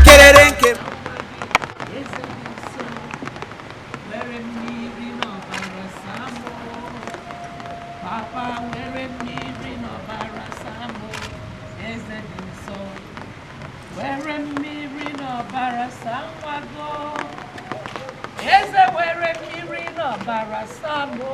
kerere nke were mmiri n'ọbara saa nwa gị eze were mmiri n'ọbara saa mụ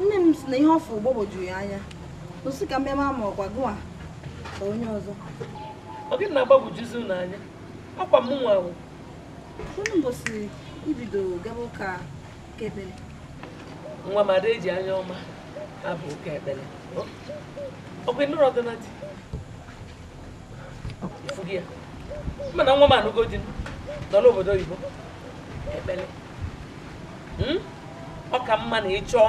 nne m si na ihe ọ fụ gbagwoju ya anya o si ka mmemme ama ọkwa gụwa ka onye ọzọ ọ gịnị na-agbagwojuzi unu anya akwa m nwa ahụ unu mbọsị i bido gaba ụka nwa m a da eji anya ọma aba ụka ekpere ọkwa ị nụrọdịnụ di ị fụgo ya mana nwa m anụgo di nọ n'obodo oyibo ekpere hmm? ọ ka mma na ị chọọ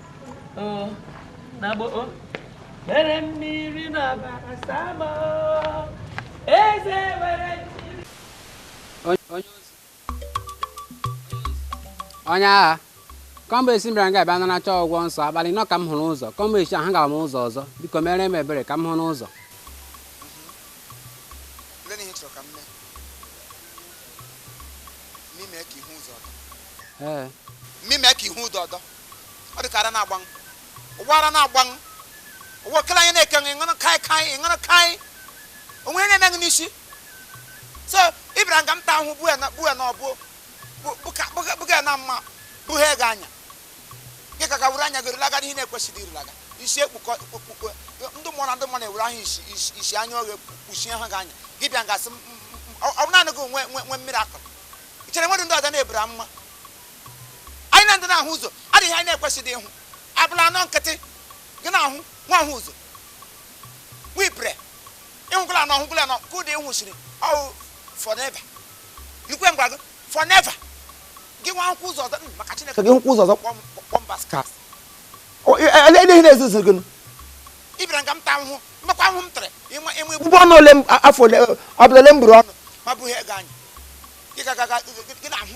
onye agha kemgbe eshi m bịara nga bịa naracha ọgwọ nsọ abalị anọ ka m hụrụ ụzọ kemgbe eshi ahụ gara m ụzọ ọzọ biko mere m ebere ka m hụnụ ụzọ ee mụ mee ka ị hụ ụzọ ọdọ ọ dị ka ara na-agba ṅụ ụwa ara na-agba ṅụ ụwa okele anya na-eke ṅụ ị ṅụrụ kaị kaị ị ṅụrụ kaị o nwe ihe na-eme gị n'isi so ị bịara nga m ta ahụ bue na bue na ọbụ bụ- bụka- bụka- bụga na mma bụghị ego anya gị ka ka were anya gị rụlaga n'ihe na-ekwesịghị irulaga isi ekpukọ ekpukọ ndị mmụọ na ndị mmụọ na-ewere ahụ isi isi- isi anya oghe kpuchie ha gị anya gị bịa ngasị m- m- m- ọ ọ bụ naanị gị nwe nwe nwe mmiri akụrụ i chere nwere ndị ọzọ na-eburu amụma anyị na ndị na-ahụ ụzọ adịghị anyị na-ekwesịghị ịhụ abalị anọ nkịtị gị na-ahụ nwa ahụ ụzọ nwa ipere ịhụgụla anọ ọhụgụla anọ ka ụdị ịhụsiri ọ wụ forever ikwe ngwa gị forever gị nwa hụkwa ụzọ ọzọ maka chineke gị hụkwa ụzọ ọzọ kpọọ m bastard lee ihe na-ezuzu gị ị bịara nga m ta ahụhụ ị makwa ahụhụ m tara ị ma ị ma egbu ụgbọ ọnwa ole afọ ole abalị ole m buru ọnụ ma bụghị ego anya gị ga-aga gị na-ahụ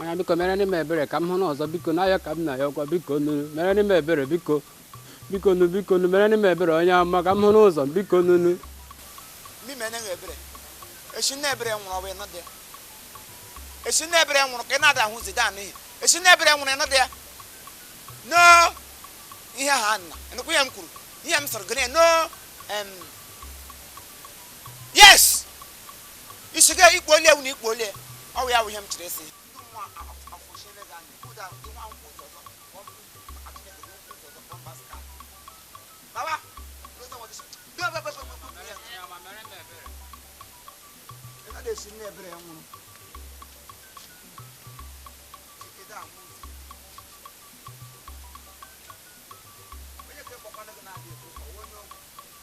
Onye biko merenụ m ebere ka m hụnụ ụzọ biko n'ayọ ka m na-ayọkwa bikonụnụ merenụ m ebere biko bikonụ bikonụ merenụ m ebere onye ama ka m hụnụ ụzọ bikonụnụ mụ meene ṅụ ebere eshi nne ebere nwụrụ ọ bụ ị nọ dị eshi nne ebere nwụrụ ka ị na-adaghịzị anụ ihe eshi nne ebere nwụrụ ị nọ dị ya no ihe ha nna ị nụkwa ihe m kwuru ihe m sịrị gịnị no em, yes isi ga ikpo ole ewu na ikpo ole ọ wụ ya wụ ihe m chiri esi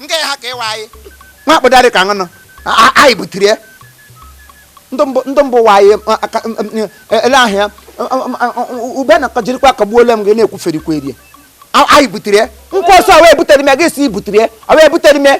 nke ha ka ịwa anyị nwa akpụdarị ka ṅụnụ anyị butere ya ndị mbụ wa anyị ele ahịa ube na jirikwa kagbuola m gị na-ekwuferikwa eri anyị butere ya nkwa ọsọ wee butere m ya gị si i butere ya wee butere m ya